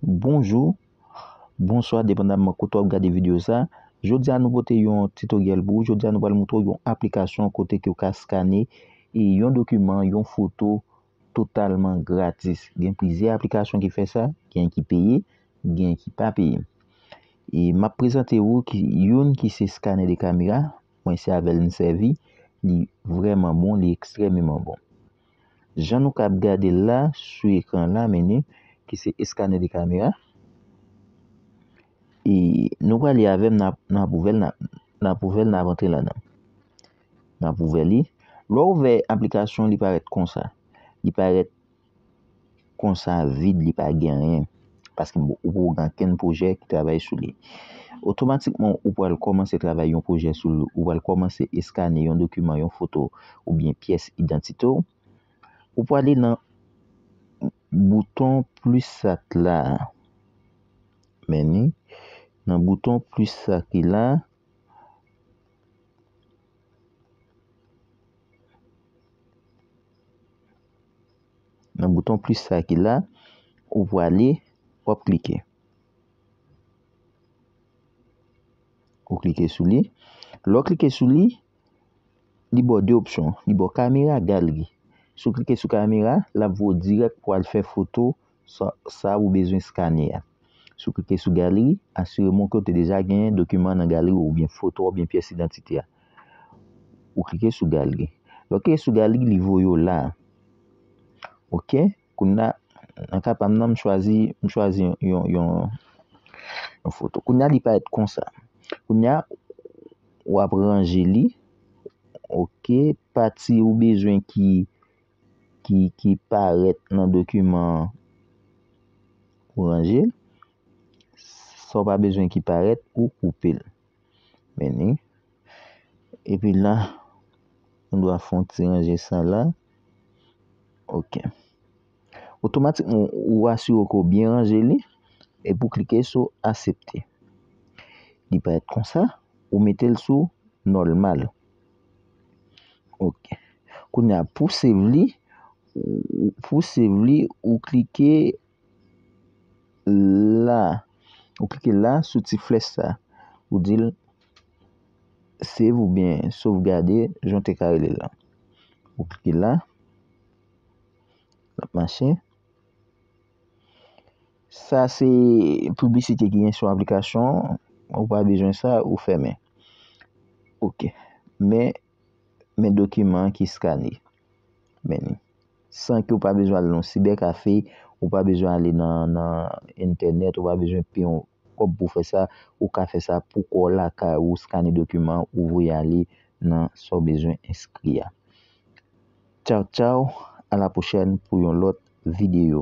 Bonjou, bonswa depandaman kote w ap gade videyo sa Jodi a nou pote yon titoryèl pou ou Jodi a nou pral moutre w yon aplikasyon kote ke ou ka skane yon dokiman, yon foto totalman gratis. Gen plizyè aplikasyon ki fè sa, gen ki peye, gen ki pa peye. E m ap prezante ou ki youn ki se scanner de camera, mwen se avèl m sèvi, li vrèman bon, li ekstrèmeman bon. Jan nou kab gade l la sou ekran la meni ki se scanner de camera. E nou prale avèm nan ap ouvèl nan ap antre ladan. N ap ouvè li. Lè w ouvè aplikasyon li parèt konsa. Li parèt konsa vid li pa gen anyen. Paske ou pa gen ankenn pwojè ki travay sou li. Otomatikman ou pral kòmanse travay yon pwojè sou li. Ou pral kòmanse eskane yon dokiman, yon foto oubyen pyès idantite w. Ou prale nan bouton plis sa k la. Mèni. Nan bouton plis sa ki la. Nan bouton plis sa ki la, ou pwale, w ap klike. Ou klike sou li. Lè w klike sou li, li ba w de opsyon. Li ba w kamera, galri. Si w klike sou kamera, l ap voye w dirèk pou w al fè foto. sa ou bezwen skane a. Si w klike sou Galeri, asireman w ke w te deja gen dokiman an nan galeri w oubyen foto a oubyen pyès idantite a. Ou klike sou Galeri. Lè w klike sou Galeri, li voye w la a. Ok, kounya, nan ka pa m nan, m chwazi, m chwazi yon, yon, yon foto. Kounya li parèt konsa. Kounya, w ap ranje li. Ok, pati ou bezwen ki. ki ki parèt nan dokiman an ou ranje l sa w pa bezwen ki parèt ou koupe l meni epi la ou dwa fè yon ti ranje sa la ok otomatikman ou asire w ke w byen ranje li epi w klike sou asepte li parèt konsa ou mete l sou nòlmal. Ok Kounya pou save li Pou save li ou klike la Ou klike la sou ti flèch sa Ou di l Save ou byen sovgade jan w te ka rele l la Ou klike la L ap mache Sa se piblisite ki gen sou aplikasyon an, ou pa bezwen sa, ou fèmen. Ok, men, men dokiman an ki skane. Men li. San ke ou pa bezwen ale nan sibè kafe, ou pa bezwen ale nan, nan entènèt, ou pa bezwen peye yon kòb pou fè sa, ou ka fè sa pou kò w lakay ou, skane dokiman an, ou voye ale nan sa w bezwen enskri a. Tchaw tchaw a la pwochèn pou yon lòt videyo.